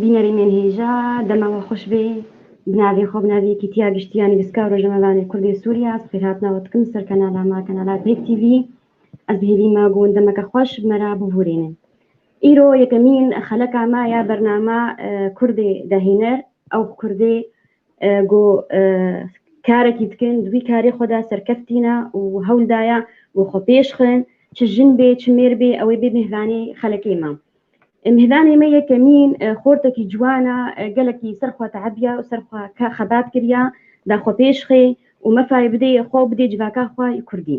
Bînerê me hêja dema we xweş bê. Bi navê xwe, bi navê Yekîtiya Giştî ya Nivîska û Rojnamevanên Kurd ê Sûrîya, bi xêrhatina we dikim li ser kanala me, kanala Pêk TV. Ez hêvî me ku hûn demeke xweş bi me re bihûrînin. Îro yekemîn xeleka me ya bername Kurdê dehêner ew bi Kurdê Ku karekî dikin di wî karê xwe de serkeftîne û hewl daye ku xwe pêş xin çi jin bê çi mêr bê ew ê bê mêvanê xelekê me. Mêvanê me yekemîn xortekî ciwan e, gelekî ser xwe tebiye û ser xwe xebat kiriye da xwe pêş xê û mefayê bidê xwe û bidê civaka xwe yê kurdî.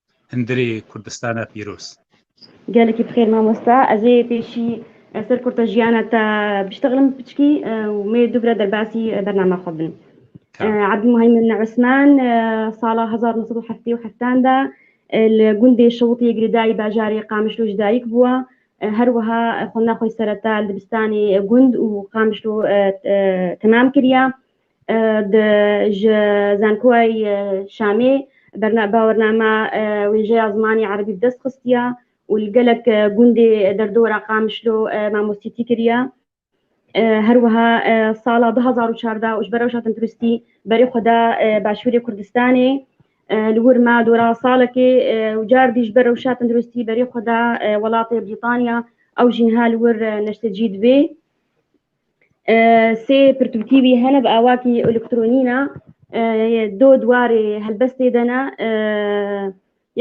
Hundirê Kurdistana pîroz. Gelekî bi xêr mamosta. Ez ê pêşî ser kurta jiyana te biştexlim piçkî û mê dubira derbasî bernama xwe bin. Ebdulmuheymin Osman sala hezar û nû sed û heftê û heftan de li gundê Şewitiyê Girîdayî bajarê Qamişlo jî dayik bûye. Her wiha xwendina xwe jî sereta li dibistanê gund û Qamişlo temam kiriye. Di ji Zankoyay Şamê bernabawernama wêjeya zimanê Erebî bi dest xistiya û li gelek gundê derdora Qamişlo mamostîtî kiriya. Her wiha sala du hezar û çardeh û ji ber rewşa tendirustî berê xwe da Başûrê Kurdistanê. Li wir ma dora salekê û cardî ji ber rewşa tendirustî berê xwe da welatê Brîtanya. Ew jî niha li wir neştecî dibê. Sê pirtûkî wî hene bi awakî elektronî ne do dwarê helbestê de ne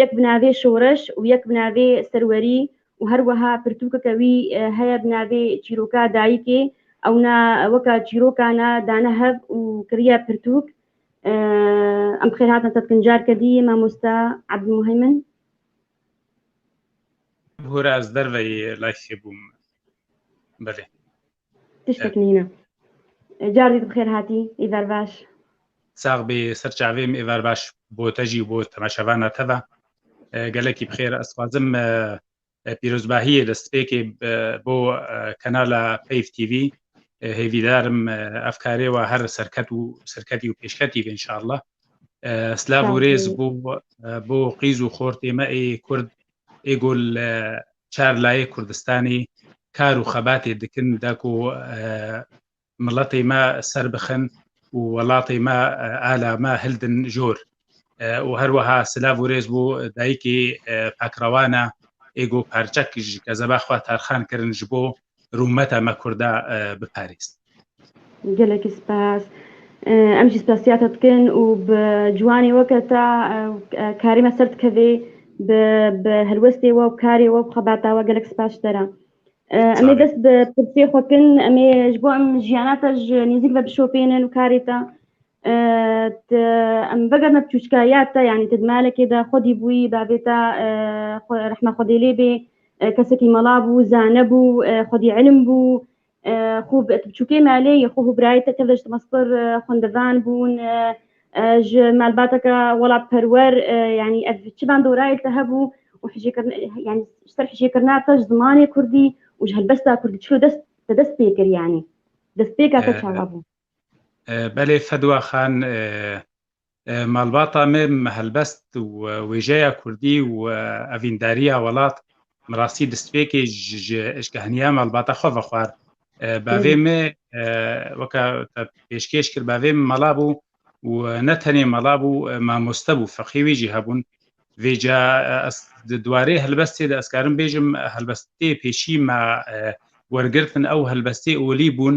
yek bi navê şoreş û yek bi navê serwerî û her weha pirtûkeke wî heye bi navê çîroka dayikê ew ne weka çîroka ne dane hev û kiriye pirtûk em bixêr hatin tetkin carke dî mamosta Abdulmuheymin. Hore ez derveyî layxê bûm. Belê. Tiştek nîne. Cardî tu xêr hatî, îver baş. Sax bê ser çavê min îver baş bo te jî bo temaşevana te ve. Gelekî bi xêr ez xwazim pîrozbahiyê li spêkê bo kanala Peyv TV hêvîdarim ev karê wa her serket û serketî û pêşketî vê inşallah. Slav û rêz bo bo qîz û xortê me ê kurd ê ku li çar layê Kurdistanê kar û xebatê dikin da ku miletê me ser bixin û welatê me ala me hildin jor. û her weha silav û rêz bû dayikê pakrewana ê ku parçek ji kezebaxwa tarxan kirin ji bo rûmeta me kurda biparêz gelekî spas em jî spasiyata dikin û bi ciwanê weke te karî me ser dikevê bi helwestê we û karê we xebata we gelek spas ji te re em ê dest bi pirsê xwe kin em ê ji bo em jiyana te ji nêzik ve bişopênin û karê te em veger me çûçkaya te yanî te di malekê de xwedî bûyî bavê te rehma xwedê lê bê kesekî mela bû, zane bû, xwedî îlim bû, xû bi biçûkê malê yê xwe û birayê te tev de ji Dimaskur xwendevan bûn, ji malbateke welatperwer yanî ev çivan dorayê te hebû û hicêkirina yanî ji ser hicêkirina te ji zimanê kurdî û ji helbesta kurdî çilo dest te dest pê kir yanî destpêka te çawa bû? Belê Fedwa Xan Malbata me helbest û wêjeya Kurdî û evîndariya welat min rastî destpêkê ji eşkeheniya malbata xwe ve xwar. Bavê me weke te pêşkêş kir bavê min mala bû û ne tenê mala bû mamoste bû feqî wî jî hebûn. Vê ca ez di dwarê helbestê de ez karim bêjim helbestê pêşî me wergirtin ew helbestê olî bûn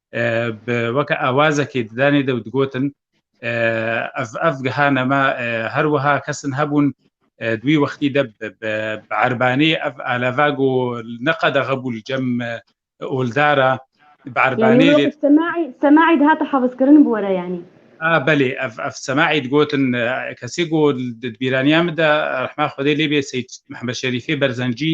bi weke awazekê di danê de û digotin ev ev giha nema her wiha kesin hebûn di wî wextî de bi erbanê ev aleva ku neqede xebû li cem oldara bi erbanê lê semaî di hate hevizkirin bi were yanî belê ev ev semaî digotin kesê ku di bîraniya min de rehma xwedê lê bê Seyd Mihemed Şerîfê Berzencî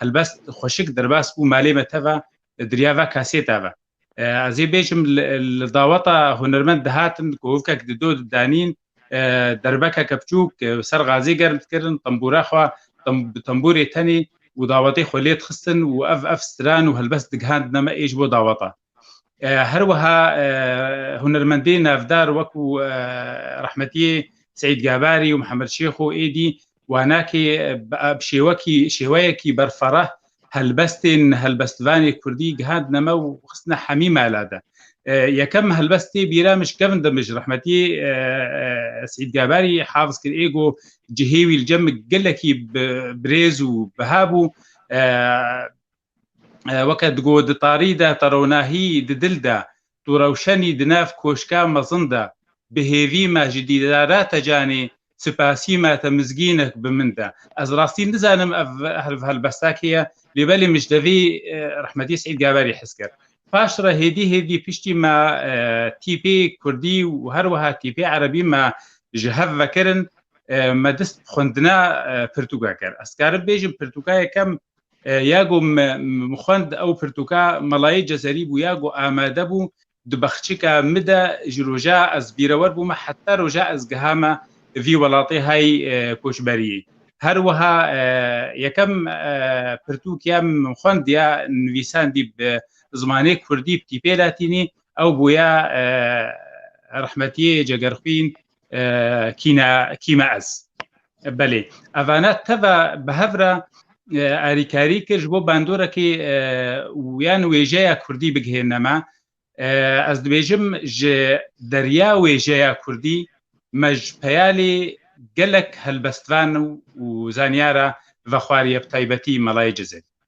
Helbest xweşik derbas bû malê me teva diriya ve kesê teve. Ez ê bêjim li daweta hunermend dihatin kovkek di do didanîn derbekeke biçûk ser gazê germ dikirin tembûra xwe bi tembûrê tenê û dawetê xwe lê dixistin û ev ev stran û helbest digihandine me ê ji bo daweta. Her wiha hunermendên navdar wekû rehmetiyê Seîd Gabarî û Mihemed Şêxo êdî wanakê bi şêwekî şêweyekî berfereh helbestên helbestvanê kurdî gihandine me û xistine hemî mala de. Yekem helbest tê bîra min ji kevin de min ji rehmetiyê Seîd Gabarî hafiz kir ê got cihê wî li cem gelekî bi birêz û biha bû Weke digot di tarî de teronahî di dil de, tu rewşenî di nav koşka mezin de, bi hêvî me ji dîdara te canê, spasî me te mizgînek bi min de. Ez rastî nizanim ev helbesta kê ye, lê belê min ji devî rehmetî Seîd Gaverî hez kir. Paş re hêdî hêdî piştî me tîpê kurdî û her wiha tîpê erebî me ji hev vekirin, me dist bi xwendina pirtûka kir. Ez dikarim bêjim pirtûka yekem Ya ku min xwend ew pirtûka Melayê Cezerî bû ya ku amade bû di baxçika min de ji roja ez bîrewer bûme heta roja ez gihame vî welatê hay koçberiyê. Her wiha yekem pirtûk ya min xwend ya nivîsandî bi zimanê kurdî bi tîpê latînî ew bûye Rehmetiyê Cegerxwîn kîne kîme ez belê evane teve bi hevre erîkarî kir ji bo bendorekî yan wêjeya Kurdî bigihêne me ez dibêjim ji derya wêjeya Kurdî me ji peyalê gelek helbestvan û zanyara vexwariye bi taybetî melayê cizê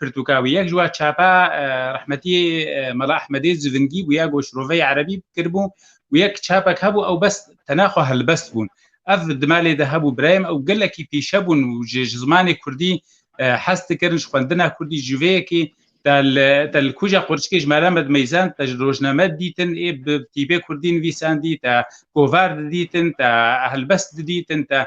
pirtûka wî. Yek ji we çapa rehmetî Mela Ehmedê civingî bû ya goş roveyê erebî kiribû û yek çapek hebû ew bes tena xwe helbest bûn. Ev di malê de hebû birayên ew gelekî pîşe bûn û ji ji zimanê Kurdî hez dikirin ji xwendina Kurdî ji vê yekê te li kuja qurçikê ji Melamed Meyzen te ji rojname didîtin ê bi tîbê Kurdî nivîsandî te govar didîtin te helbest didîtin te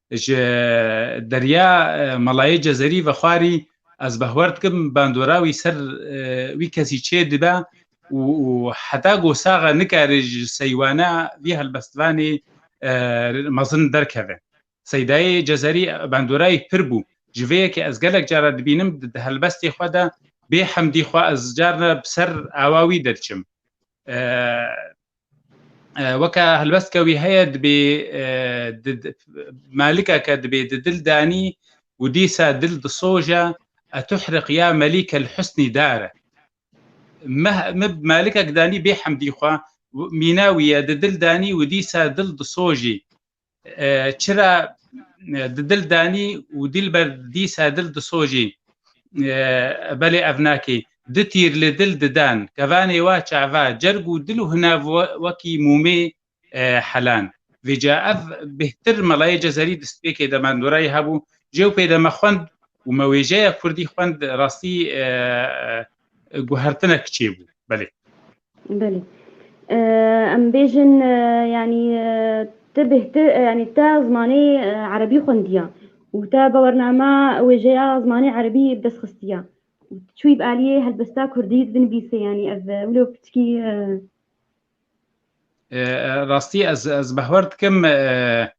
Ji derya Malayê Cezerî vexwarî ez behwer dikim bandora wî ser wî kesî çê dibe û heta ku saxe nikare ji seywana vî helbestvanê mezin derkeve. Seydayê Cezerî bandora wî pir bû. Ji vê yekê ez gelek caran dibînim di helbestê xwe de bê hemdî xwe ez carna bi ser awa wî de diçim. weke helbest ke wî heye dibê malikeke dibê di dil danî û dîsa dil disoje etuhriq ya melîke li husnî dare min malikek danî bê hemdî xwe mîna wî ye di dil danî û dîsa dil disojî Çira di dil danî û dîlber dîsa dil disojî. Belê ev nakê. Du tîr li dil didan. Kevanê wa çava, cerg û dil û hinav wekî mûmê helan. Vêca ev bêhtir melayê cezerî distpêkê de mendorayî hebû. Jewpê de me xwend û me wêjeya kurdî xwend rastî guhertinek çêbû belê belê em bêjin yanî te bêhti yanî te zimanê erebî xwendiya û te bawarnama wêjeya zimanê erebî bi dest xistiya çûyî bi aliyê helbesta kurdî binivîsê yanî ev wilo piçkî rastî ez ez behwer dikim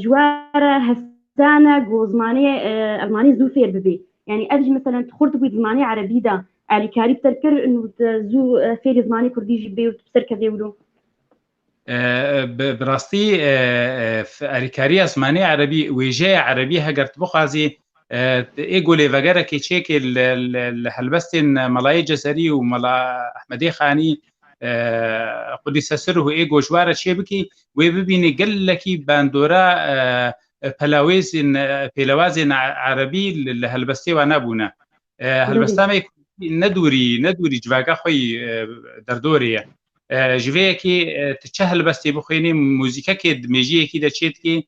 ji we re hestane ku zimanê elmanî zû fêr bibî yanî ev jî mesela tu xurt bûî zimanê erebî de alîkarî bi te kir û zû fêrî zimanê kurdî jî bibê û tu bi ser kevê wilo bi rastî alîkariya zimanê erebî wêjeya erebî heger tu bixwazî ê golê vegerekê çêkê li helbestên melayê cezerî û mela ehmedê xanî Qudîse Sirruh ê goşware çê bikî wê bibînî gelekî bandora pelawêzên pêlewazên erebî li helbestê we nebûne. Helbesta me ne dûrî ne dûrî civaka xwe yî derdorê ye. Ji vê yekê tu çi helbestê bixwênî muzîkekê di mêjiyekî de çê dikî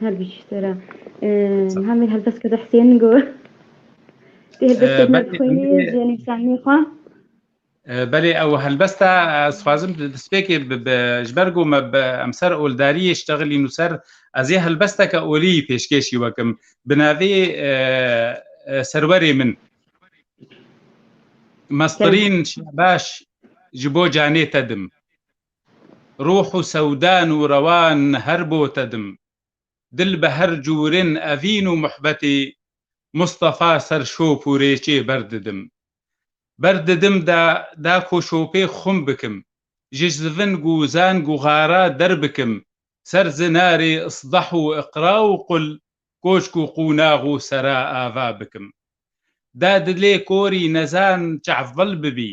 Her bî çî sera. Hemê helbest kede Hüseyin go. Tê helbest ked me xwênê ji nivîsanê xwe. Belê ew helbesta ez xwazim despêkê ji ber ku me bi emser oldariyê ştexilîn û ser ez ê helbesteke olî pêşkêşî wekim bi navê serwerê min Mestirîn Şabaş ji bo canê te dim. Ruh û sewdan û rewan her bo te dim. Dil bi her cûrin evîn û muhbetê Mustafa ser şop û rêçê ber didim. Ber didim da da ku şopê xum bikim, ji zivin gu zan gu xara der bikim ser zinarê isdah û iqra û qul, koçk û qûnax û sera ava bikim. Da dilê korî nezan çavbil bibî.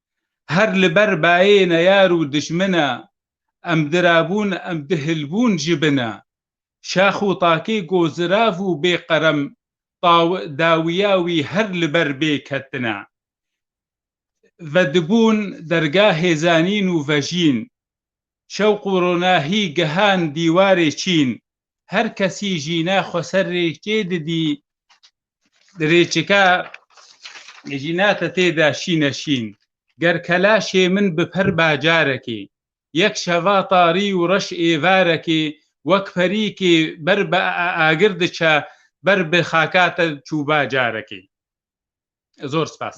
Her li ber bayê neyar û dijmina, em dirabûn em dihilbûn ji bina. Şax û takê ku zirav û bê qerem taw dawiya wî her li ber bê ketina. Vedibûn derga hêzanîn û vejîn. Şewq û ronahî gihan dîwarê çîn. Her kesî jîna xweserrê çêdidî Dirêçika jînate tê de şîne şîn. Ger kelaşê min bi per bacarekê. Yek şeva tarî û reş êvarekê wek perîkê ber bi agir diçe ber bi xaka te çû bacarekê. Zor spas.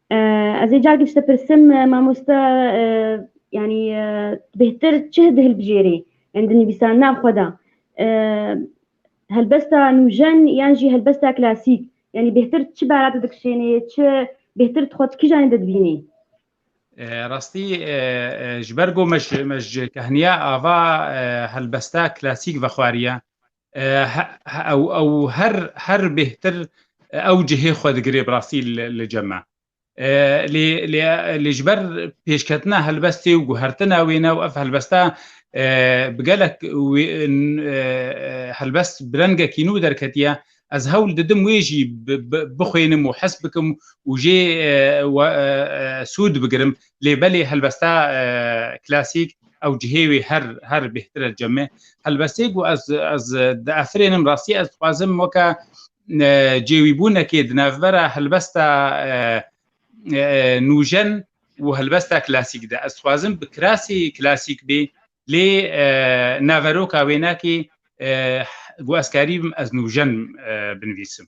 Ez ê carek ji te pirsim mamoste yanî bêhtir çi di hilbijêrê yan di nivîsandina xwe de helbesta nûjen yan jî helbesta klasîk yanî bêhtir çi bera te dikişênê çi bêhtir tu xwe di kîjanê de dibînî? Rastî ji ber ku me ji kehniya ava helbesta klasîk vexwariye ew her her bêhtir ew cihê xwe digirê bi rastî li cem me. Lê lê lê ji ber pêşketina helbestê û guhertina wê ne û ev helbesta bi gelek helbest bi rengekî nû derketiye ez hewl didim wê jî bixwênim û hes bikim û jê sûd bigirim lê belê helbesta klasîk ew cihê wê her her bêhtir e ceme helbestê ku ez ez di efirênim rastî ez dixwazim weke cêwîbûnekê di navbera helbesta nûjen û helbesta klasîk de ez dixwazim bi kirasî klasîk bê lê naveroka wênakî ku ez karî bim ez nûjen binivîsim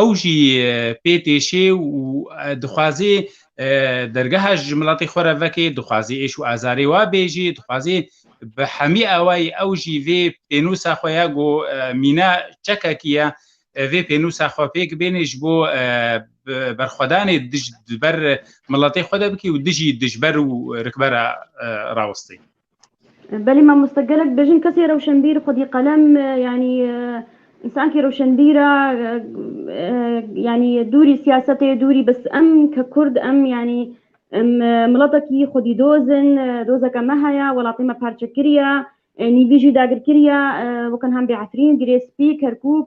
ew jî pê têşê û dixwazê dergeha ji milatê xwe re vekê, dixwazê êş û azarê wa bêjî, dixwazê bi hemî awayî ew jî vê pênûsa xwe ya ku mîna çekekî ye vê pênûsa xwe pêk bênê ji bo berxwedanê dij ber miletê xwe de bikî û dijî dijber û rikbera rawestê. Belê mamoste gelek dibêjin kesê rewşenbîr xwedî qelem yanî însankî rewşenbîr e yanî dûrî siyasetê dûrî bis em ke kurd em yanî em miletekî xwedî doz in dozeke me heye welatê me parçe kiriye nîvî jî dagirkiriye wekin hem bêefrîn girê spî kerkûk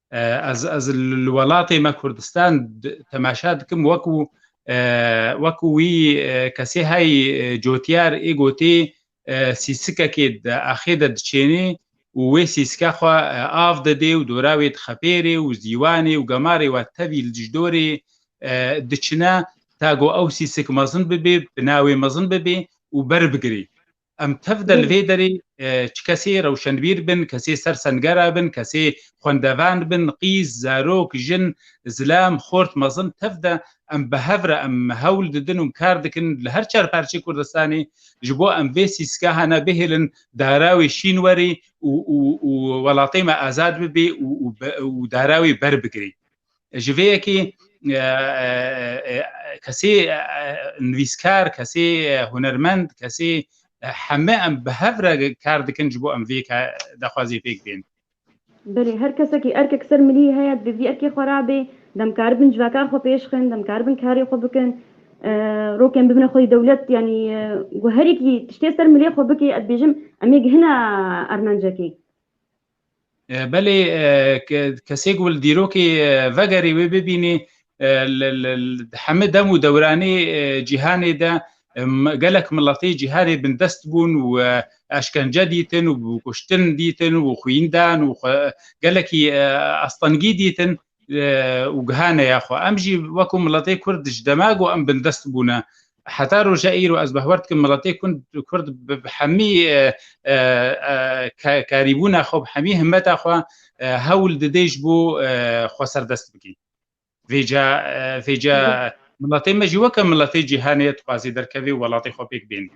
Ez ez li welatê me Kurdistan temaşa dikim wekû wekû wî kesê hey cotiyar ê gotê sîsikekê di axê de diçênê û wê sîsike xwe av didê û dora wê dixepêrê û zîwanê û gemarê we tevî li dijdorê diçine ta ku ew sîsik mezin bibê, bina wê mezin bibê û berbigirê. Em tev de li vê derê çi kesê rewşenbîr bin, kesê ser sengera bin, kesê xwendevan bin, qîz, zarok, jin, zilam, xort, mezin tev de em bi hev re em hewl didin û kar dikin li her çar parçeyê Kurdistanê ji bo em vê sîskahana bihêlin dara wê şîn werê û û û welatê me azad bibê û û û dara wê berbigirê. Ji vê yekê kesê nivîskar, kesê hunermend, kesê heme em bi hev re kar dikin ji bo em vê daxwazê pêk bên. Belê, her kesekî erkek ser milî heye, divê vî erkê xwe rabê, dem karibin civaka xwe pêş xin, dem karibin karê xwe bikin, rokên bibine xwedî dewlet yanî ku herêkî tiştê ser milê xwe bikê, ez dibêjim em ê gihine ermencekê. Belê kesê ku li dîrokê vegerê wê bibînê li hemû dem û dewranê cîhanê de gelek miletê cîhanê bindest bûn û eşkence dîtin û kuştin dîtin û xwîndan û gelekî astengî dîtin û giha neya xwe. Em jî wekû miletê Kurd ji dema ku em bindest bûne heta roja îro ez behwer dikim miletê Kurd bi hemî karîbûna xwe bi hemî himmeta xwe hewl didê ji bo xwe serdest bikî. Vêca vêca miletê me jî weke miletê cîhanê ye dixwazê derkevê û welatê xwe pêk bêne.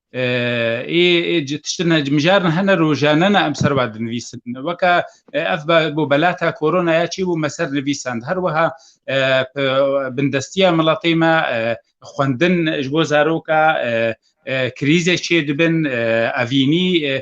ê tiştine mijar ne hene rojane ne em serva dinivîsin weke ev bo belata koronaya çî bû me ser nivîsand her wiha bindestiya miletê me xwendin ji bo zaroka krîzê çê dibin evînî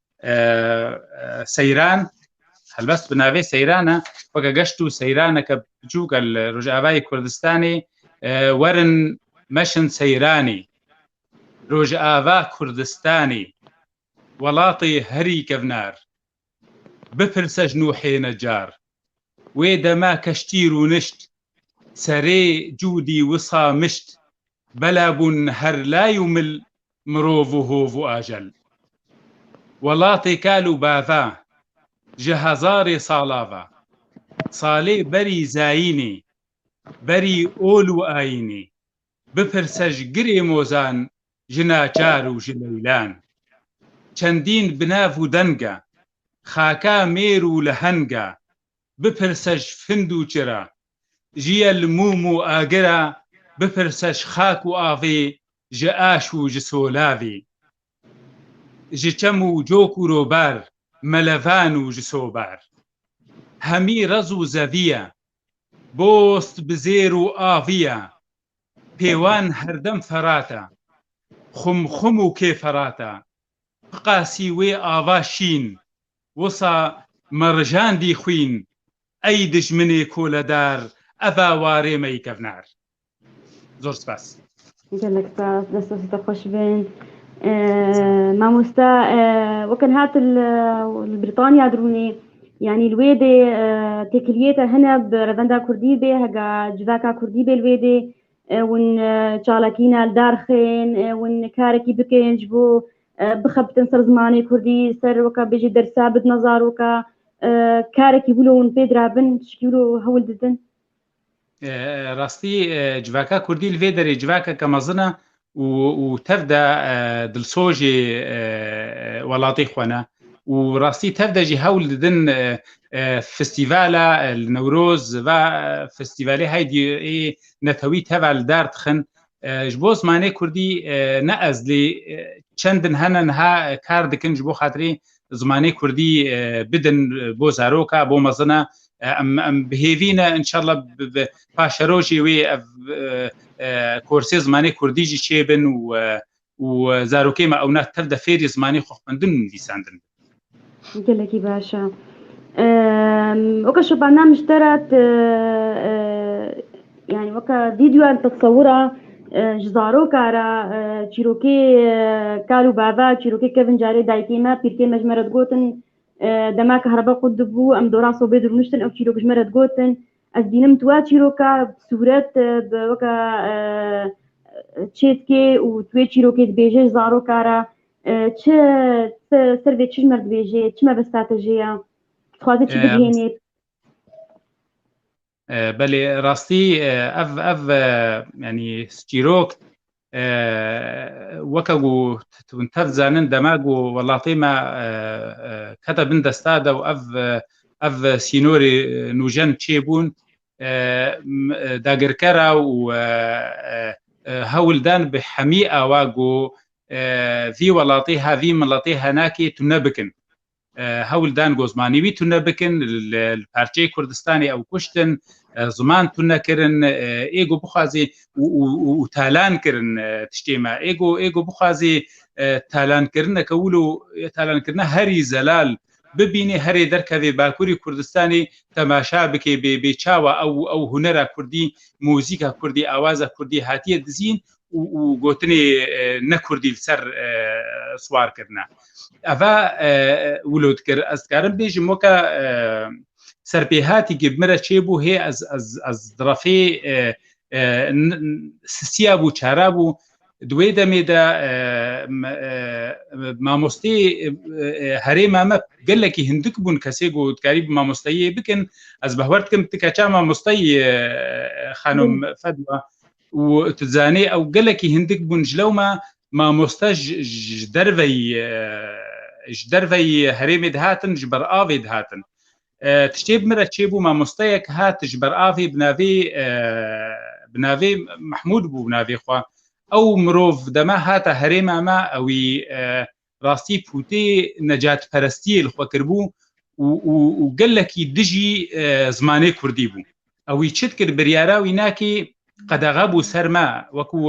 seyran helbest bi navê seyrana weke geşt û seyraneke biçûk el Rojavayê Kurdistanê werin meşin seyranî Rojava Kurdistanê welatê herî kevnar bipirse ji nûhê necar Wê dema keştî rûnişt, serê cûdî wisa mişt, bela bûn her lay û mil mirov û hov û ajel. Welatê kal û bava, ji hezarê sala ve, salê berî zayînê, berî ol û ayînê, Bipirse ji girê mozan, ji naçar û ji leylan. Çendîn bi nav û denga, xaka mêr û lehenga. Bipirse ji find û çira, ji ye li mûm û agira. Bipirse ji xak û avê, ji aş û ji solavê. Ji çem û cok û robar, melevan û ji sobar. Hemî rez û zevî ye, Dost bi zêr û avî ye. Pêwan herdem ferat e. Xumxum û kê ferat e. Ti qasî wê ava şîn, wisa merijandî xwîn, ey dijminê koledar, eva warê me yê kevner. Zor spas. Gelek spas. Dest dest hoş bin. Mamosta wekin hat li Britanya dirûnê yanî li wê dê têkiliyê te hene bi revenda Kurdî bê hega civaka Kurdî bê li wê dê ûn çalakîna li dar xên ûn karekî bikin ji bo bixebitin ser zimanê Kurdî ser weka bêjî dersa bidina zaroka karekî wilo hûn pê dirabin tişkî wilo hewl didin Rastî civaka kurdî li vê derê civakeke mezin e û û tev de dilsojê welatê xwe ne û rastî tev de jî hewl didin festîvala li Newroz ve festîvalê heydî ê netewî teva li dar dixin ji bo zimanê kurdî ne ez lê çend din hene niha kar dikin ji bo xatirê zimanê kurdî bidin bo zaroka bo mezin e em bi hêvî ne inşallah paşerojê wê ev korsê zimanê kurdî jî çêbin û û zarokê me ewna tev de fêrî zimanê xwe xwendin û nivîsandin gelekî baş e weke şopana mişterat Yani weke vîdyoyan tesewira ji zaroka re çîrokê kal û bava çîrokê kevin carê dayikê me pîrkê me ji me re digotin dema kehreba qut dibû em dora sobê dirûniştin ew çîrok ji me re digotin ez bînim tu wa çîroka sûret bi weke çêtkê û tu wê çîrokê dibêje ji zaroka re çi ser vê çi ji me dibêje çi me bi stratejiya dixwaze çi bigihênê Belê rastî ev ev yanî çîrok weke ku hûn tev dizanin dema ku welatê me kete bin desta de û ev ev sînorê nûjen çêbûn dagirkera û hewl dan bi hemî awa ku vî welatê ha vî miletê henakê tune bikin. Hewl dan ku zimanê wî tune bikin, li parçeyê Kurdistanê ew kuştin, ziman tune kirin, ê ku bixwazî û talan kirin tiştê me. Ê ku ê ku bixwazî talankirine wilo talankirina herî zelal bibînê, herê derkevê Bakurê Kurdistanê temaşa bike bê çawa ew ew hunera Kurdî, muzîka Kurdî, awaza Kurdî hatiye dizîn û gotinê ne kurdî li ser siwar kirine. Eva wilo dikir ez dikarim bêjim weke serpêhatî ki min re çêbû hê ez direfê sisiya bû çara bû di wê demê de mamostê herêma me gelekî hindik bûn kesê ku dikarî bi mamosteyiyê bikin ez bi hewer dikim ti keça mamosteyî xanom fedwa Û tu zanî ew gelekî hindik bûn ji lewma mamoste ji derveyî ji derveyî herêmê dihatin ji ber avê dihatin. Tiştê bi min re çêbû mamosteyek hat ji ber avê bi navê bi navê Mehmûd bû bi navê xwe. Ew mirov dema hata herêma me ewî rastî pûtê necatperestiyê li xwe kiribû û gelekî dijî zimanê Kurdî bû. Ew wî çi dikir biryara wî nakî qedexe bû ser me wekû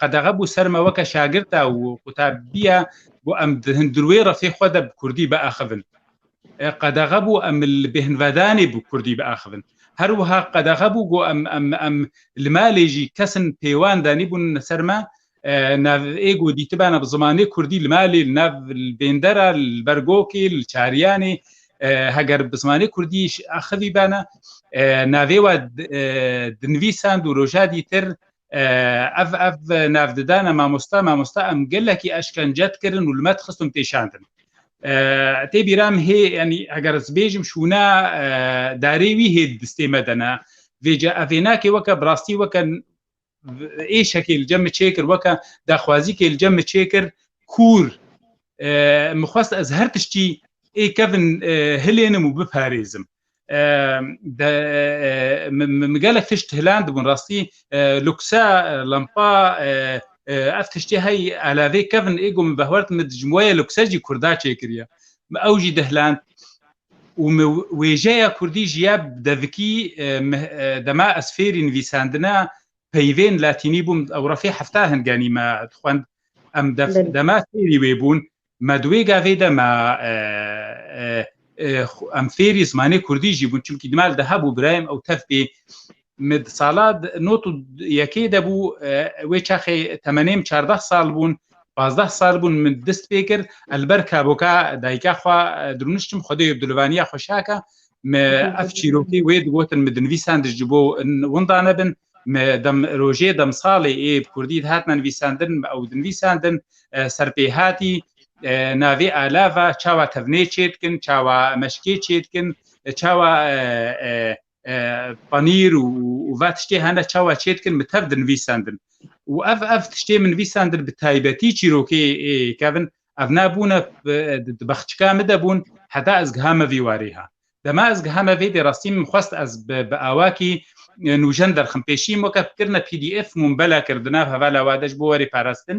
qedexe bû ser me weke şagirta û qutabiya ku em dirwê refê xwe de bi Kurdî biaxivin. Qedexe bû em li bêhnvedanê bi Kurdî biaxivin. Her wiha qedexe bû ku em em em li malê jî kesin pêwan danîbûn ser me nav ê ku dîtibana bi zimanê Kurdî li malê li nav li bêndera li ber gokê li çariyanê heger bi zimanê Kurdî axivî bana navê we dinivîsand û roja dîtir ev ev nav didana mamosta mamosta em gelekî eşkence dikirin û li me dixistin pêşandin tê bîram hê yanî heger ez bêjim şûna darê wî hê distê me dene vêce evênakê weke bi rastî weke êşekê li cem min çêkir weke daxwazîkê li cem min çêkir kûr min xwest ez her tiştî ê kevin hilênim û biparêzim min gelek tişt hilan dibûn rastî luksa lampa ev tiştê hey elavê kevin ê got min vehwert min ji weye luksa jî kurda çêkiriye ew jî dihland û me wêjeya kurdî ji ya devikî dema ez fêrî nivîsandina peyvên latînî bûm ew refê hefta hinganî me dixwend em dema fêrî wê bûn me di wê gavê de me em fêrî zimanê kurdî jî bûn çimkî dimal de hebû birayem ew tevpê Me di sala not û yekê de bû wê çaxê temenêm çardeh sal bûn pazdeh sal bûn min dist pê kir elber kaboka dayika xwe dirûniştim xwedê bi dilivaniya xweşaka me ev çîrokê wê digotin min dinivîsan dij ji bo winda nebin me dem rojê dem salê ê bi kurdî dihatna nivîsandin ew dinivîsandin serpêhatî navê alava çawa tevnê çê dikin çawa meşkê çê dikin çawa panîr û ve tiştê hene çawa çêdikin min tev dinivîsendin û ev ev tiştê min nivîsendin bi taybetî çîrokê kevin ev nebûne di bexçika min de bûn heta ez giha me vî warê ha dema ez giha me vê dê rastî min xwest ez bi awakî nûjen derxim pêşî min weke kirine pdf mûn bela kirdi nav hevala wade ji bo werê parastin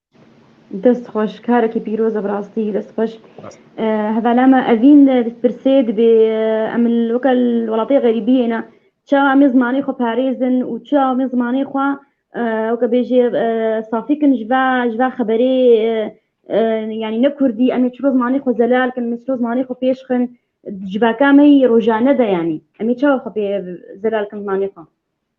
Dest xweş karekî pîroz e bi rastî dest xweş. Hevala me evîn pirsê dibê em li weke li welatê xerîbiyê ne çawa em ê zimanê xwe parêzin û çawa em ê zimanê xwe weke bêjê safî kin ji va ji va xeberê yanî ne kurdî em ê çiro zimanê xwe zelal kin em ê çiro zimanê xwe pêş xin ji vaka me yî rojane de yanî em ê çawa xwe pê zelal kin zimanê xwe.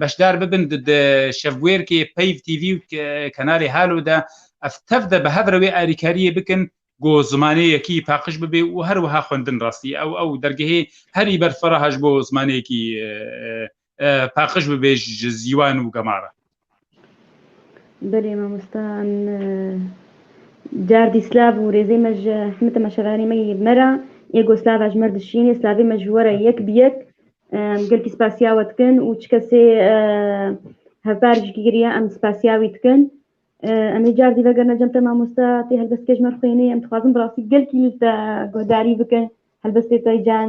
beşdar bibin di şevbûyerkê peyv TV û kenarê Halo de ev tev de bi hev re wê alîkariyê bikin ku zimanê yekî paqij bibê û her wiha xwendin rastî ew ew dergehê herî ber feraha ji bo zimanê yekî paqij bibê ji zîwan û gemara. Belê mamosta em cardî slav û rêzê me ji hemî te me şeveranî me yê me re êgo slava ji me re dişînê slavê me ji we re yek bi yek gelkî spasiya we dikin û çi kesê hevpar jî kiriye em spasiya wî dikin em ê cardî vegerine cem te mamosta tê helbestke ji me re xwênê em dixwazin bi rastî gelkî te guhdarî bikin helbestê te can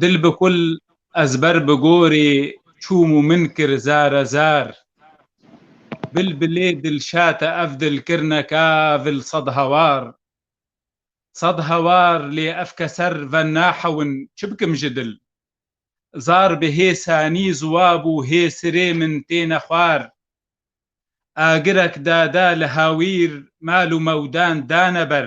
Dil bi kul ez ber bi gorî çûm û min kir zare zar Bilbilê dilşate ev dil kirine ka vil sed hawar Sed hawar lê ev keser ve nahewin çi bikim ji dil Zar bi hê sanî ziwab û hê sirê min têne xwar Agirek dada li hawîr mal û mewdan dane ber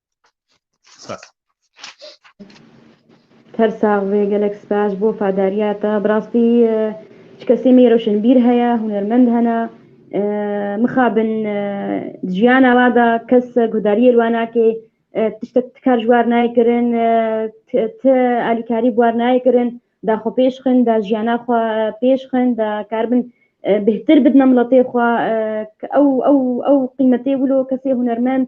Her sax ve gelek spas bo fadariya te. Bi rastî ji kesê me roşenbîr heye, hunermend hene. Mixabin di jiyana we de kes guhdariyê li we nake, tiştek tikar ji war nayê kirin, ti alîkarî bi war nayê kirin, da xwe pêş xin, da jiyana xwe pêş xin, da karibin bêhtir bidin miletê xwe. Ew ew ew qîmetê wilo kesê hunermend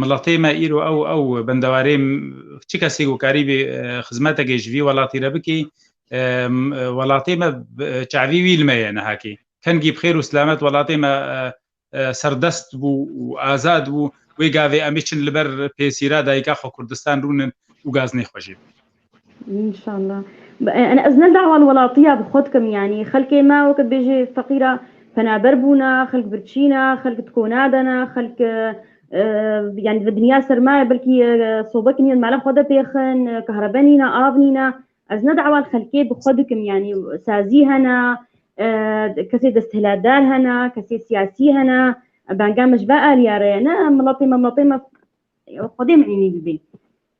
Miletê me îro ew ew bendewarê çi kesê ku karîbî xizmetekê ji vî welatî re bikî welatê me çavî wî li me ye nihakî. Kengî bi xêr û silamet welatê me serdest bû û azad bû. Wê gavê emê çin li ber pêsîra dayika xwe Kurdistan rûnin û gaznê xwe jê bidin. Înşallah. Em ez ne dawa li welatiya bi xwe dikim yanî xelkê me wekî bêjê feqîra penaber bûna, xelk birçîna, xelk tiko nadana, xelk e, e, yanî bi dinya sermaye belkî e, sobek nîn mala xwe de pêxin, e, kahrebe nîna, av nîna. Ez ne dawa li xelkê bi xwe dikim yanî sazî hene, e, kesê desthilatdar hene, kesê siyasî hene, e, benga me ji ve aliya re ye. Ne miletê me miletê me xwedê min înî bibê.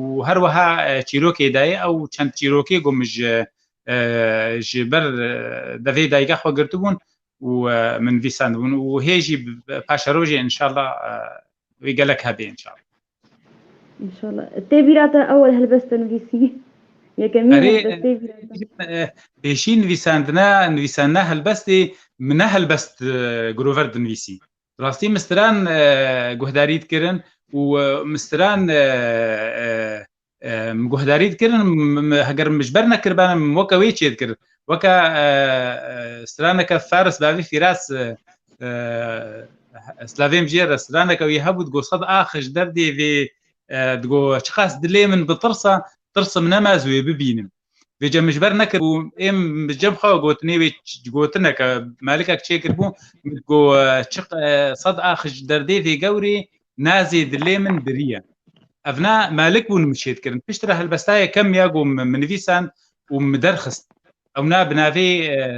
û her weha çîrokê dayê ew çend çîrokê got min ji ji ber devê dayîka xwe girtibûn û min vî sendibûn û hê jî paşa rojê inşallah wê gelek hebê inşallah. İnşallah. Tê bîra te ewel helbest te nivîsî. Yekemîn helbest tê bîra te. Pêşî nivîsandina nivîsandina helbestê min ne helbest girover dinivîsî. Rastî mistiran guhdarî dikirin û mistiran guhdarî dikirin heger min ji ber nekiribane min weke wê çê dikir weke straneke feris bavî fîras slavêm jê re straneke wî hebû digot xet axij derdê vê digot çiqas dilê min bitirsa tirsm nema ez wê bibînim Vê cem min ji ber nekir û êm bi cem xwe got nê wê gotineke melikek çêkir bû ku çi sed axij derdê vê gewrê nazê dilê min biriye. Ev ne melik bûn min şêd kirin. Pişt re helbestayê kem ya ku min nivîsan û min derxist. Ew ne bi navê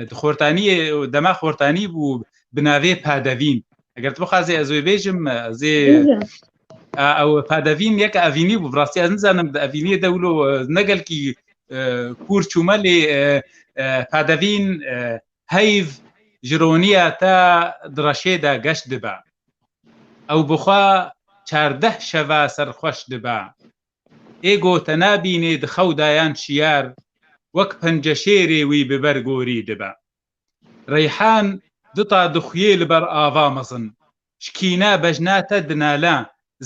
di xortaniyê dema xortanî bû bi navê padevîn. Eger tu bixwazê ez wê bêjim ez ê Ew pedevîn yek evînî bû rastî ez nizanim di evîniyê de wilo ne gelkî kûr çûme lê pedevîn heyv ji roniya te di reşê de geş dibe. Ew bixwe çardeh şeve serxweş dibe. Ê go te nabînê di xew de yan şiyar wek penceşêrê wî bi ber gorî dibe. Reyhan duta dixuyê li ber ava mezin Ji kîne bejna te dinale,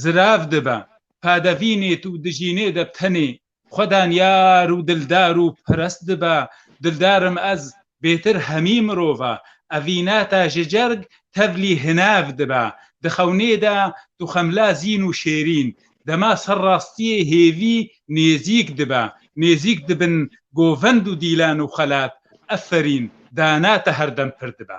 zirav dibe, padevînê tu dijînê de bi tenê xwe danyar û dildar û perest dibe, dildar im ez, bêtir hemî mirov e, evîne te ji cerg tevlî hinev dibe, di xewnê de tu xemla zîn û şêrîn, dema ser rastiyê hêvî nêzîk dibe, nêzîk dibin govend û dîlan û xelat, eferîn, dana te her dem pir dibe.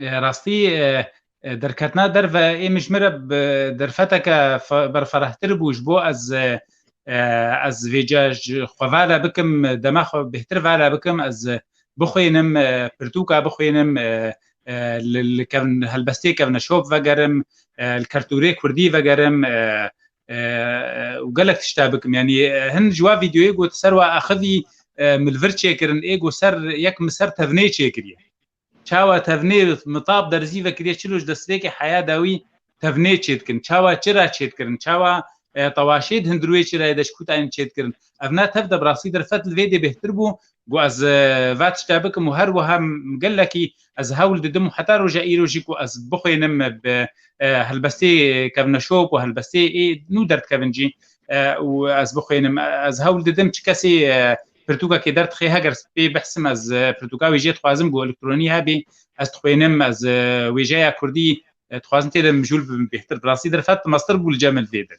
Rastî derketina derve ê min ji min re bi derfeteke berferehtir bû ji bo ez ez vê ca ji xwe ve re bikim dema xwe bêhtir ve re bikim ez bixwênim pirtûka bixwênim li kevin helbestê kevneşop vegerim li kertûrê kurdî vegerim û gelek tişta bikim yanî hin ji wa vîdeoyê got ser wa axivî milvir çêkirin ê got ser yek min ser tevnê çêkiriye çawa tevnê mitab derzî vekiriye çilo ji destpêkê heya dawî tevnê çêdikin çawa çira çêdikirin çawa tewaşê di hundirûyê çirayê de ji kûtayên çêdikirin ev ne tev de bi rastî derfet li vê dê bêhtir bû Ku ez va tişta bikim û her wiha gelekî ez hewl didim û heta roja îro jî ku ez bixwênim bi helbestê kevna şop û helbestê ê nû derdikevin jî û ez bixwênim ez hewl didim çi kesê pirtûkekê derdixê heger pê behsim ez pirtûka wê jê dixwazim ku elektronî hebê ez dixwênim ez wêjeya kurdî dixwazim tê de mijûl bibim bêhtir bi rastî derfet mastir bû li cem min vê dir.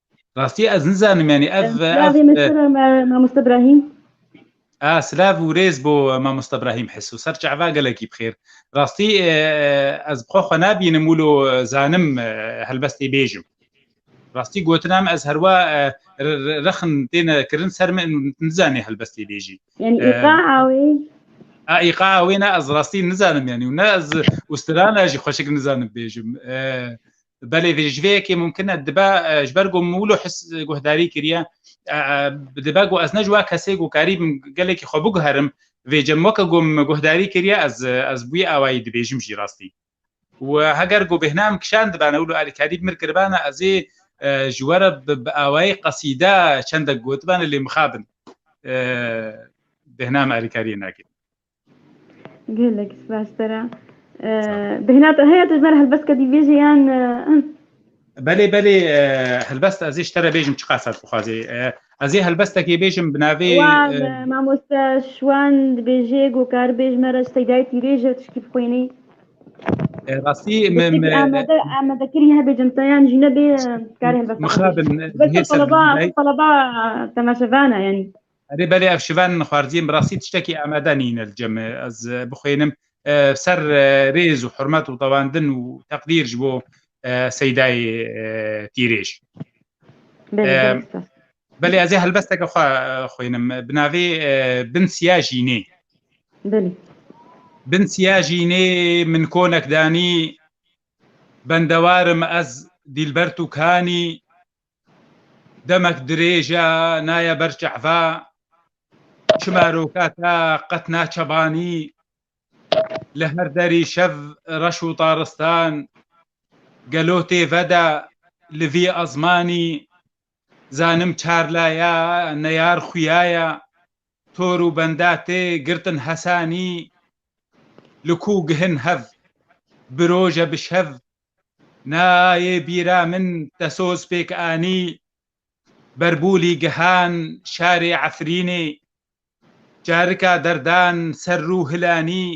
Rastî ez nizanim yanî ev Silavê me sere me Mamoste Ibrahîm. A silav û rêz bo Mamoste Ibrahîm Hiso ser çava gelekî bi xêr. Rastî ez bi xwe xwe nabînim wilo zanim helbestê bêjim. Rastî gotin em ez herwa rexin têne kirin ser min nizanê helbestê bêjî. Yanî îqa awê A îqa awê ne ez rastî nizanim yanî û ne ez ûstirana jî xweşik nizanim bêjim. belê vê ji vê yekê mumkin e dibe ji ber ku mûlo his guhdarî kiriye dibe ku ez ne ji we kesê ku karî bim gelekî xwe biguherim vê cem weke ku min guhdarî kiriye ez ez bûyî awayî dibêjim jî rastî û heger ku bêhna min kişand bana wilo alî karî mir kiribana ez ê ji we re bi awayî qesîde çendek gotibane lê mixabin bêhna min alîkariyê nakim Gelek spas tera. Bêhna te heye tu ji ber helbest kedî bêjî yan Belê belê helbest ez ê ji te re bêjim çi qasat bixwazê. Ez ê helbestekê bêjim bi navê Mamoste Şwan dibêjê gokar bêj me re ji Seydayê Tîrêj e tişkî bixwînî. Rastî Amede kirî hebê cimte yan jî nebê karê helbest. Mixabin. Belê teleba temaşevan e yanî. Erê belê ev şivan min xwarziyê bi rastî tiştekî amade nîne li cem ez bixwênim ser rêz û hurmet û tewandin û teqdîr ji bo Seydayê Tîrêj. Belê ez ê helbesteke xwe xwênim bi navê bin siya jînê. Belê. Bin siya jînê min konek danî bendewarim ez dîlber tu kanî Demek dirêj e, naye ber çehve. Çima roka te qet naçevanî? Li her derî şev, reş û taristan. Gelo tê ve de li vî ezmanî? Zanim çar laye, neyar xuyaye. Tor û benda tê girtin hesanî li ku gihin hev bi roje bi şev nayê bîra min te soz pêk anî Berbûlî gihan şarê Efrînê carika derdan ser rû hilanî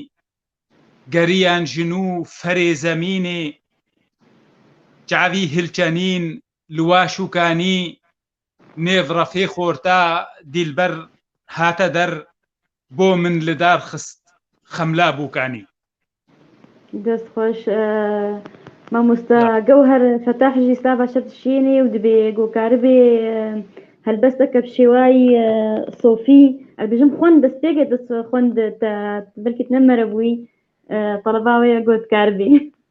geriyan ji nû ferê zemînê çavî hilçenîn li Waşûkanî nêv refê xorta Dîlber hate der bo min li dar xist Xemla Bûkanî. Dest xweş mamosta Gewher Fetah jî slava şer dişînî û dibê gokaribê helbesteke bi şêwayî sofî ez bijim xwend dest pêk e dest xwend te belkî tu ne merebûyî taleba wê ye gotkaribê.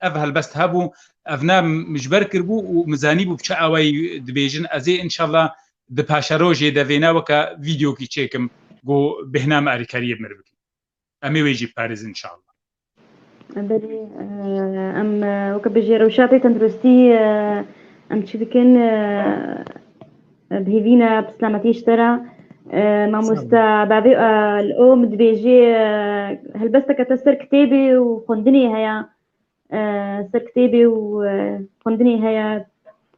Ev helbest hebû, ev ne ji ber kiribû û min zanîbû bi çi awayî dibêjin. Ez ê înşella di paşerojê de vêna weke vîdyokî çêkim ku bêhna me alîkariyê bi min re bikin. Em ê wê jî biparêzin înşella. Belê, em weke bi jêrewşatê tenduristî em çi dikin? Bihêvîne pislametî ji te re. Mamoste bavê li o min dibêjê helbesteke te ser kitêbê û xwendinê heye ser kitêbê û xwendinê heye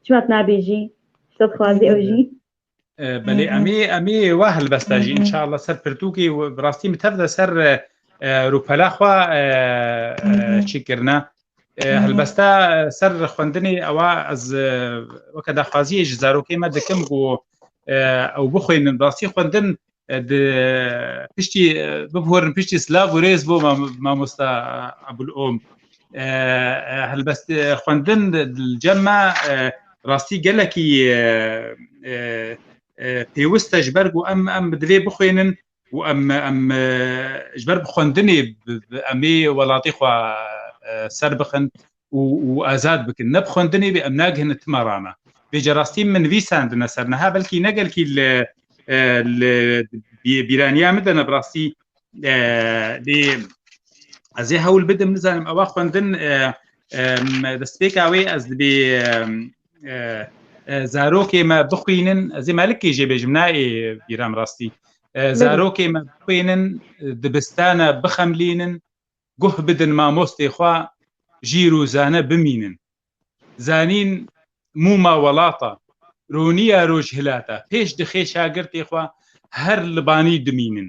çima tu nabêjî te dixwazî ew jî Belê emî emî wa helbeste jî inşallah ser pirtûkî rastî min tev de ser rûpela xwe çîkirine Helbeste ser xwendinê ewa ez weke daxwaziyê ji zarokê me dikim ku ew bixwînin rastî xwendin di piştî bibhorin piştî silav û rêz bo mamosta Ebul Om. Helbest xwendin li cem me rastî gelekî pêwist e ji ber ku em em bi divê bixwînin û em em ji ber bi xwendinê em ê welatê xwe ser bixin û û azad bikin ne bi xwendinê bê em nagihine tima rana bê ca rastî min vî sandine ser niha belkî ne gelkî li li bîraniya min de ne bi rastî lê ez ê hewl bidim nizanim ewa xwendin destpêka wê ez dibê zarokê me bixwînin ez ê melikê jê bêjim nayê bîram rastî zarokê me bixwînin dibistana bixemlînin guh bidin mamostê xwe jîr û zane bimînin zanîn mûma welata rûniya rojhilata pêş dixê şagirtê xwe her libanî dimînin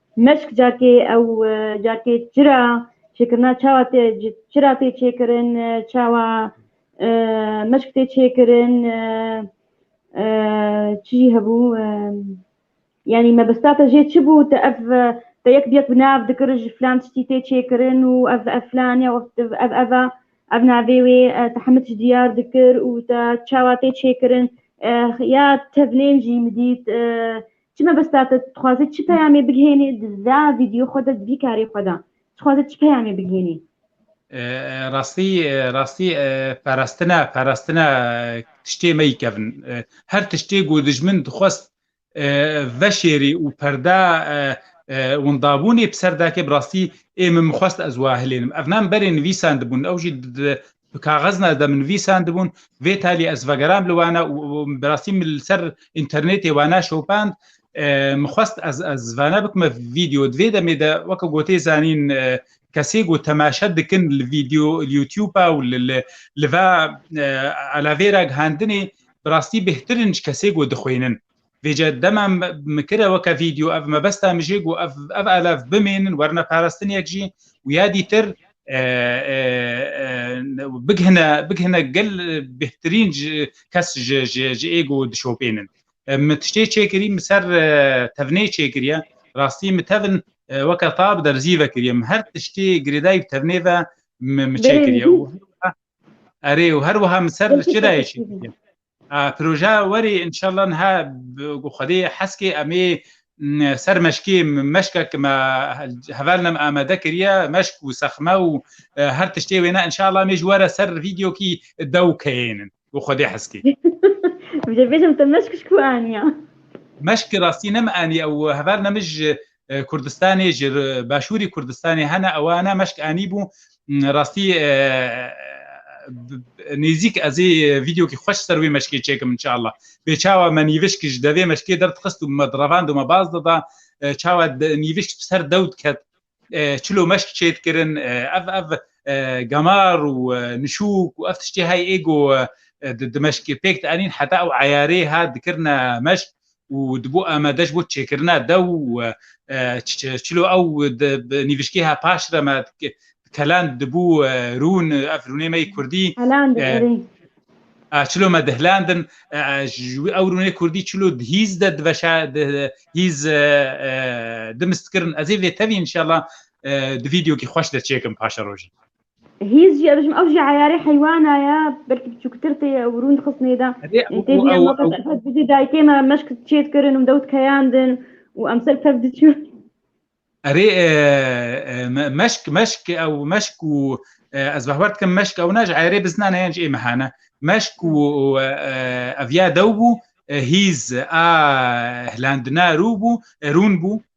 Meşk carkê ew carkê çira çêkirina çawa tê çira tê çêkirin çawa meşk tê çêkirin çi jî hebû yanî mebista te jê çi bû te ev te yek bi yek bi nav dikir ji filan tiştî tê çêkirin û ev ev filan ya ev ev e ev navê wê te hemû tişt diyar dikir û te çawa tê çêkirin ya tevlên jî min dît Çi mebesta te? Dixwazî çi peyamê bigihênî di vî vîdyo xwe de, di vî karê xwe de? Dixwazî çi peyamê bigihênî? Rastî rastî perestine perestine tiştê meyikevin. Her tiştê ku dijmin dixwest veşêrî û perde windabûnê bi ser dake bi rastî ê min mixwest ez wa hilênim. Ev ne min berê nivîsandibûn ew jî bi kaxezna ez de min vîsan dibûn vê talî ez vegeram li wana û bi rastî min li ser înternetê wana şopand min xwest ez ez vana bikime vîdeo divê demê de weke gotê zanîn kesê ku temaşe dikin li vîdeo li YouTube'a û li li va elavêra gihandinê bi rastî bêhtirin ji kesê ku dixwînin Vêce dema min kire weke vîdeo ev mebesta min jê got ev ev elev bimênin werine parastiniyek jî û ya dîtir bighine bighine gel bêhtirîn kes ji êgo dişopênin. Min tiştê çêkirî min ser tevnê çêkiriye rastî min tevin weke tab derzî vekiriye min her tiştê girêdayî bi tevnê ve min çêkiriye û erê û her wiha min ser çirayê çêkiriye. Proje werî înşallah niha ku Xwedê hez kê em ê ser meşkê meşkek me heval nem amade kiriye meşk û sexme û her tiştê wêne înşallah em ê ji we re ser vîdyokî dew keyênin ku Xwedê hez kê. Vijê bêjim te meşk ji ku aniya? Meşk rastî nem anî ew heval ne min ji Kurdistanê ji başûrî Kurdistanê hene ewa ne meşk anî bû rastî nêzîk ez ê vîdeokî xweş ser wê meşkê çêkim inşallah bê çawa me nîvişk ji devê meşkê derdixist û me direvand û me baz dida çawa nîvişk ser dew diket çilo meşk çêt kirin ev ev gemar û nişûk û ev tiştê hay êgo di meşkê pêk anîn heta ew eyarê hat dikirine meşk û dibû amade ji bo çêkirina dew û çilo ew bi nîvişgêha paş re me Kelan dibû rûn ev rûnê me yê kurdî çilo me dihlandin ji wî ew rûnê kurdî çilo di hîz de diveşa hîz dimistkirin ez ê vê tevî inşallah di vîdyokî xweş de çêkim paşerojî. Hîz jî ez ew jî eyarê heywana ye belkî biçûktir tê ye ew rûnd xist nêde. Tê bîne ma kes ev bidî dayikê me meşk çêt kirin û dewt keyandin û em ser pevd çû. Erê meşk meşk ew meşk û ez behwer dikim meşk ew ne ji eyarê bizna ne yan ji ê mehane. Meşk û ev ya dew bû hîz a hilandina rû bû rûn bû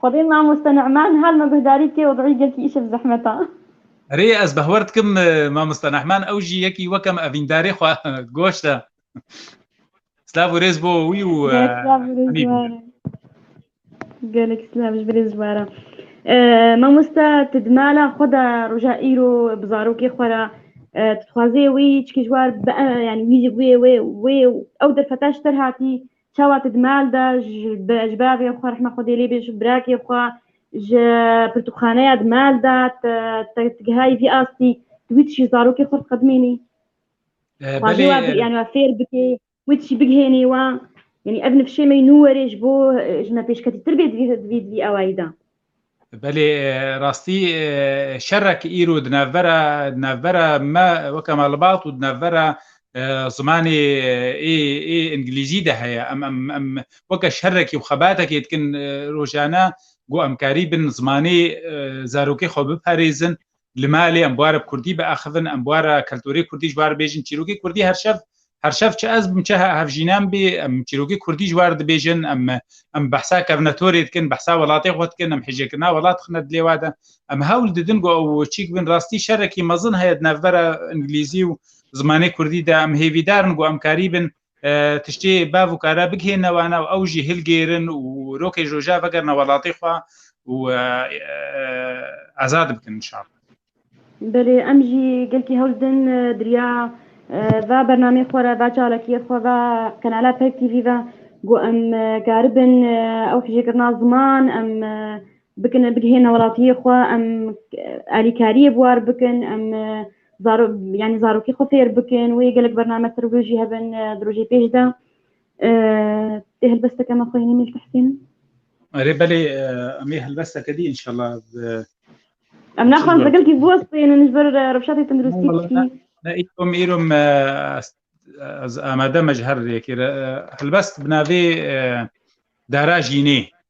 Xwedê mamoste Nu'man her me guhdarî bike wez'î gelkî îşev zehmet a. Rê ez behwer dikim mamoste Nu'man ew jî yekî wek em evîndarê xwe goşt e. Silav û rêz bo wî û hemî bo. Gelek silav ji birê ziwaran. Mamoste tu di mala xwe de roja îro bi zarokê xwe re tu dixwazê wî çikî ji war be yanî wî wê wê wê û ew derfeta ji te re hatî Çawa tu di mal de ji ber vê xwe rehma Xwedê lê bê ji birakê xwe ji pirtûkxaneya di mal de te gihayî vî astî tu wî tişî zarokê xwe diqedimênî xwedê wa yani wa fêr bikê wî tişî bigihênî wa yani ev nifşê me nû werê ji bo ji me pêşketîtir bê di vî di vî awayî de Belê rastî şerek îro di navbera di navbera me weke me libat û di navbera zimanê ê ê îngilîzî de heye. Em em em weke şerekî û xebatekê dikin rojane ku em karî bin zimanê zarokê xwe biparêzin Li malê em bûa re kurdî biaxivin, em bûa re keltorê kurdî ji wa re bêjin, çîrokê kurdî her şev her şev çi ez bim çi hevjînan bê em çîrokê kurdî ji wa re dibêjin, em em behsa kevnetorê dikin, behsa welatê xwe dikin, em hêjekirina welat dixine dilê we de. Em hewl didin ku ew çîk bin. Rastî şerekî mezin heye di navbera îngilîzî û zimanê kurdî de. Em hêvîdar in ku em karî bin Tiştê bav û kare bigihêne wan ew, ew jî hilgêrin û rokê roja vegerine welatê xwe û azad bikin inşallah. Belê em jî gelkî hewl didin diriya va bernameyê xwe re, va çalakiyê xwe, va qenala Peyk TV ve ku em karibin ew hijêkirina ziman em bikin, bigihêne welatiyê xwe, em alîkariyê bi war bikin, em zaro yani zarokê xwe fêr bikin wê gelek bername ser wê jî hebin di rojê pêş de tê helbesteke me xweyînî mîl tehsîn Erê belê em ê helbesteke dî inşallah em naxwan zegelkî biwestînin ji ber rewşatê tenduristî îrom îrom amade me ji her rêkê helbest bi navê dara jînê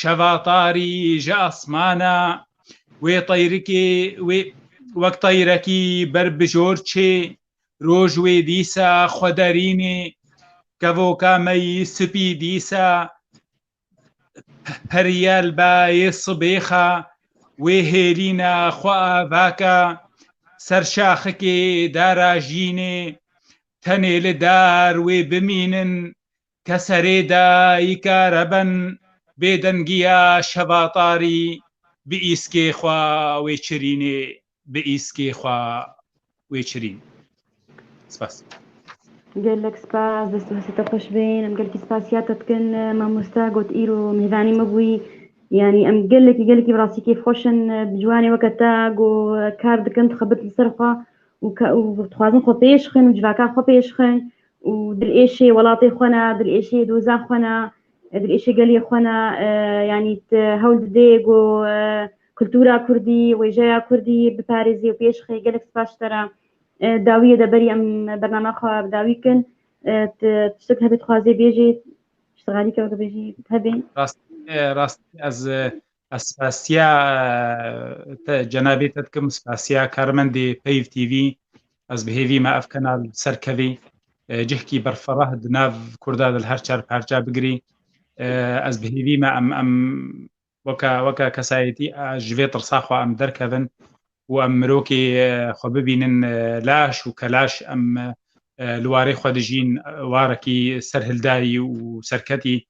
Şeva tarî ji asmana wê teyrikê wê wek teyrekî ber bi jor çê, roj wê dîsa xwe derînê, kevoka me yî sipî dîsa periye li bayê sibêxa wê hêlîna xwe avaka ser şaxikê darajînê, tenê li dar wê bimînin Ke serê dayike reben bêdengiya şevatarî bi îskê xwe wêçirînê bi îskê xwe wêçirîn. Spas. Gelek spas, dest û hestê te xweş bên. Em gelekî spasiya te dikin mamoste got îro mêvanî me bûyî. Yanî em gelekî gelekî bi rastî kêfxweş in bi ciwanê weke te ku kar dikin dixebit li ser xwe û û dixwazin xwe pêş bixin û civaka xwe pêş bixin û dilêşê welatê xwe ne, dilêşê doza xwe ne, dilêşê gelê xwe ne, yanî hewl didê ku kultura kurdî, wêjeya kurdî biparêzê û pêş xê gelek spas ji te re. Dawiyê de berî em bernameya xwe bi dawî bikin. Tu tiştek hebe dixwazê bêjî, piştî xalî ke weke bêjî hebe. Rastî rastî ez Spasiya te cenabê te dikim spasiya karmendê Peyv TV ez bi hêvî me ev kenal serkevî cihkî berferah di nav Kurda di her çar parça bigirî ez bi hêvî me em em weka weka kesayetî ji vê tirsa xwe em derkevin û em mirokê xwe bibînin laş û kelaş em li warê xwe dijîn warekî serhildayî û serketî